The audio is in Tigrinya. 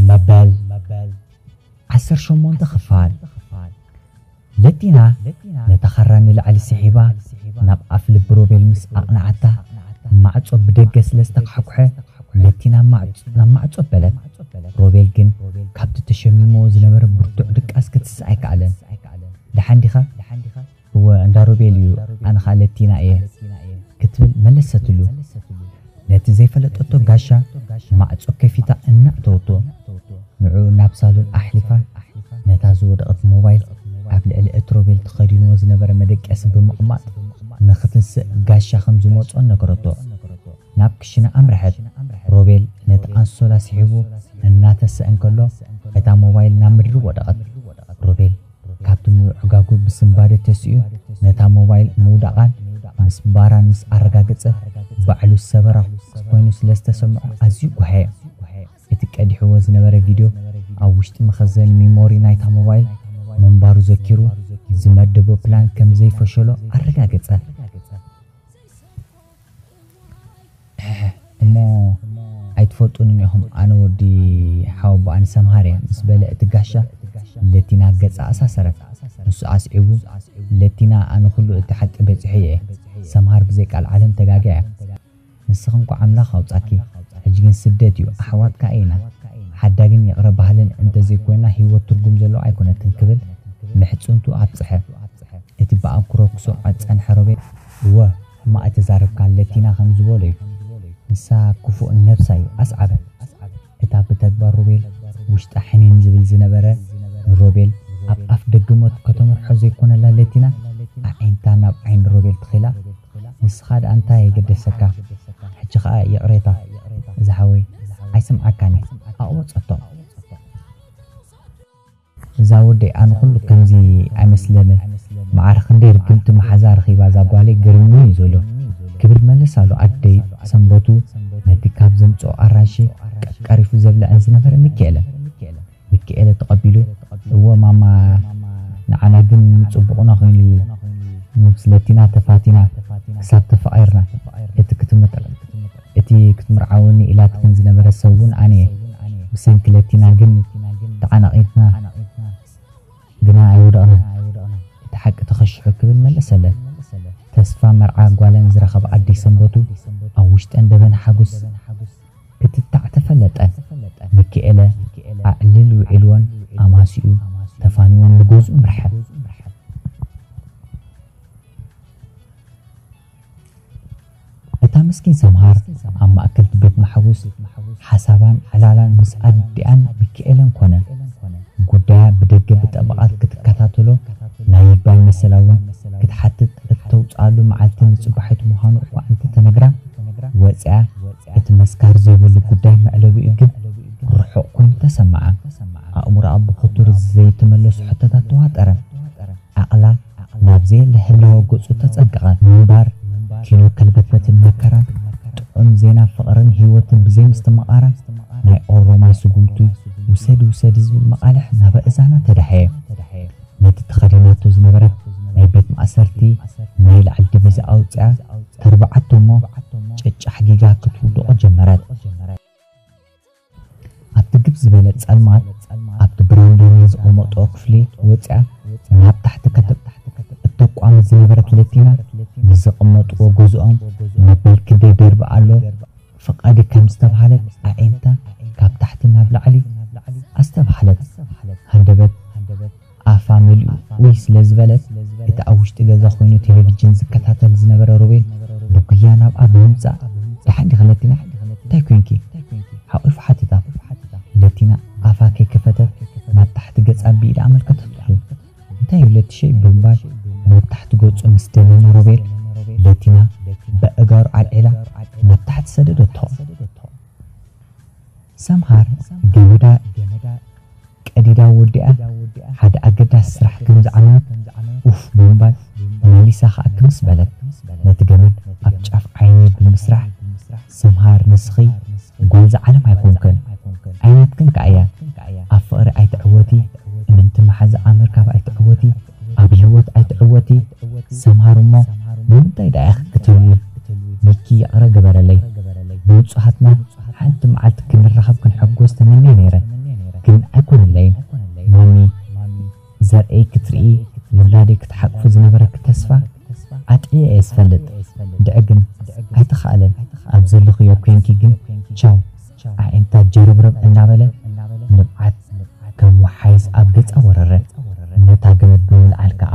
መበል ዓሰርተ ሸሞንተ ክፋል ለቲና ነታ ኻራ ንላዕሊ ስሒባ ናብ ኣፍ ልቢ ሮቤል ምስ ኣቕንዓታ ማዕጾ ብደገ ስለ ዝተኳሕኩሐ ለቲና ናብ ማዕጾ በለት። ሮቤል ግን ካብቲ ተሸሚምዎ ዝነበረ ብርቱዕ ድቃስ ክትስእ ኣይከኣለን። ደሓን ዲኻ? እወ እንዳ ሮቤል እዩ ኣነ ኸኣ ለቲና እየ ክትብል መለሰትሉ። ነቲ ዘይፈለጠቶ ጋሻ ማዕጾ ከፊታ እናእተወቶ ንዕኡ ናብ ሳሎን ኣሕሊፋ ነታ ዝወደቐት ሞባይል ኣብ ልዕሊ እቲ ሮቤል ተኸዲንዎ ዝነበረ መደቀሲ ብምቕማጥ ንኽትንስእ ጋሻ ከም ዝመጾ ነገረቶ። ናብ ክሽነ ኣምረሐት። ሮቤል ነቲ ኣንሶላ ስሒቡ እናተሰ እንከሎ እታ ሞባይል ናብ ምድሪ ወደቐት። ሮቤል። ካብቲ ምብዕጋጉ ብስንባደ ተሲኡ ነታ ሞባይል ምውዳቓን ምስባራን ምስ ኣረጋገጸ፣ ባዕሉ ሰበራ ኮይኑ ስለ ዝተሰምዖ ኣዝዩ ጓህየ። እቲ ቀዲሕዎ ዝነበረ ቪድዮ ኣብ ውሽጢ መኸዘኒ ሚሞሪ ናይታ ሞባይል ምንባሩ ዘኪሩ፣ ዝመደቦ ፕላን ከም ዘይፈሸሎ ኣረጋገጸ። እሕሕ እሞ ኣይትፈልጡንን ኢኹም ኣነ ወዲ ሓወቦኣን ሰምሃር እየ ምስ በለ እቲ ጋሻ ለቲና ገጻ ኣሳሰረት ንሱ ኣስዒቡ ለቲና ኣነ ኩሉ እቲ ሓቂ በጺሖዮ እየ ሰምሃር ብዘይ ቃልዓለም ተጋግያ እያ ንስኺ እንኳዕ ኣምላኽ ኣውጻኪ ሕጂ ግን ስደት እዩ ኣሕዋት ከኣ ኢና ሓዳግን ይቕረ በሃልን እንተ ዘይኮይና ሂወት ትርጉም ዘለዋ ኣይኮነትን ክብል ምሕጽንትኡ ኣብጸሐ እቲ ብኣንክሮ ክሰምዖ ዝጸንሐ ሮቤል እወ ሕማቅ ኣይተዛረብካ ኣለቲና ከም ዝበሎ እዩ ንሳ ኩፉእ ነብሳ እዩ ኣስዓበ እታ ብተግባር ሮቤል ውሽጣ ሕኒን ዝብል ዝነበረ ንሮቤል ኣብ ኣፍ ደገ ሞት ከተምርሖ ዘይኮነላ ለቲና ኣዒንታ ናብ ዓይኒ ሮቤል ትኺላ ንስኻ ድኣ እንታይ የገደሰካ ሕጂ ከኣ ይቅሬታ ዝሓወይ ኣይስምዓካን እየ ኣቅበጸቶ። እዛ ወደይ ኣነ ኩሉ ከምዚ ኣይመስለንን መዓር ክንደይ ርግምቲ መሓዛ ረኺባ እዛ ጓለይ ግርም እዩ ዝብሎ ክብል መለሳሉ ኣደይ ሰንበቱ ነቲ ካብ ዘምጽኦ ኣራንሺ ቀርቀሪፉ ዘብለዐን ዝነበረ ሚኪኤለ ሚኪኤለ ተቐቢሉ እወ ማማ ንዓና ግን ምጽቡቑና ኮይኑ እዩ ምስለቲና ተፋቲና ክሳብ ተፋቒርና እቲ ክትምጥር እቲ ክትምርዓወኒ ኢላትክን ዝነበረት ሰብ ውን ኣነ'የ። ብሰንኪ ለቲና ግን ተዓናቒፍና ግና ኣይወደቕናን። እቲ ሓቂ ተኸሺሑ ክብል መለሰለን። ተስፋ መርዓ ጓለን ዝረኸባ ኣደይ ሰንበቱ ኣብ ውሽጠን ደበና ሓጎስ ክትታዕ ተፈለጠን። ሚኪኤለ ኣዕሊል ውዒልወን ኣማሲኡ ተፋኒወን ንገዝኡ ኣምርሐ። እታ ምስኪን ሰምሃር ኣብ ማእከል'ቲ ቤት ማሕቡስ ሓሳባን ዕላላን ምስ ኣዲኣን ሚኪኤለን ኮነ። ጉዳያ ብደገ ብጠበቓት ክትከታተሎ ናይ ይግባይ መሰላ'ውን ክትሓትት እተውጽኣሉ መዓልቲ ንጽባሒቱ ምዃኑ እኳ እንተ ተነግራ፣ ወጺኣ እቲ መስካር ዘይብሉ ጉዳይ መዕለቢኡ ግን ርሑቕ ኮይኑ ተሰምዓ። ኣእምሮኣ ብኽቱር ዘይተመለሱ ሕቶታት ተዋጠረ። ዓቕላ ናብ ዘየለ ህላወ ገጹ ተጸገቐ ምንባር፣ ኪኖ ከልበትበትን መከራን፣ ጥዑም ዜና ፍቕርን ህይወትን ብዘይምስትምቓራ፣ ናይ ኦሮማይ ስጉምቲ ውሰዲ ውሰዲ ዝብል መቓልሕ ናብ ኣእዛና ተዳህየ። ነቲ ተኸዲናቶ ዝነበረት ናይ ቤት ማእሰርቲ ናይ ላዕሊ ዲቪዛ ኣውጺኣ ተርብዓቶ እሞ ጨጫሕ ጊጋ ክትውድቖ ጀመረት። ኣብቲ ግብ ዝበለ ጸልማት ኣብቲ ብራንዶኒ ዝቐመጦ ክፍሊ ወጺኣ ናብ ታሕቲ ከተብ እተቋምት ዝነበረት ለቲና ምስ ዘቐመጥዎ ገዝኦም መበል ክንደይ ደርቢ ኣሎ ፍቓዲ ከም ዝተባህለት ኣዒንታ ካብ ታሕቲ ናብ ላዕሊ ኣስተብሃለት ሃንደበት ኣፋ መሊኡ ኡይ ስለ ዝበለት፣ እቲ ኣብ ውሽጢ ገዛ ኮይኑ ቴሌቪጅን ዝከታተል ዝነበረ ሮቤል ብጉያ ናብኣ ብምምጻእ ደሓን ዲኺ ለቲና? እንታይ ኮይንኪ? ሓቒፉ ሓተታ። ለቲና ኣፋ ከይከፈተት ናብ ታሕቲ ገጻ ብኢዳ ኣመልከተትሉ። እንታይ እዩ ለቲሸይ? ብምባል ናብ ታሕቲ ገጹ ምስ ደመመ ሮቤል፣ ለቲና በእጋሩ ዓልዒላ ናብ ታሕቲ ሰደደቶ። ሰምሃር ገመዳ ቀዲዳ ወዲኣ ሓደ ኣገዳሲ ስራሕ ከም ዝዓነወት ኡፍ ብምባል መሊሳ ከኣ ክምስ በለት። ነቲ ገመድ ኣብ ጫፍ ዓይኒ ብምስራሕ ሰምሃር ንስኺ ጓል ዝዓለም ኣይኮንክን ኣይናትክን ከኣ እያ ኣብ ፍቕሪ ኣይትዕወቲ እምንቲ መሓዛ ኣምር ካብ ኣይትዕወቲ ኣብ ሂወት ኣይትዕወቲ ሰምሃር እሞ ንምንታይ ድኣ ኢኪ ክትህልዊ ሚኪ ይቅረ ግበረለይ ብብጹሃትና ሓንቲ ምዓልቲ ክንራከብ ክንሕጎስ ተመንየ ነይረ ግን ኣይኮነለይን ማሚ ዘርእይ ክትርኢ ውላደይ ክትሓቅፉ ዝነበረኪ ተስፋ ኣጥዕየ እየ ዝፈልጥ ድዒ ግን ኣይተካእለን ኣብ ዘለክዮ ኮንኪ ግን ቻው። ኣዒንታ ጀረብረብ እናበለ ንብዓት ከም ወሓይዝ ኣብ ገጻ ወረረ። ነታ ገመድ ብምልዓል ከኣ።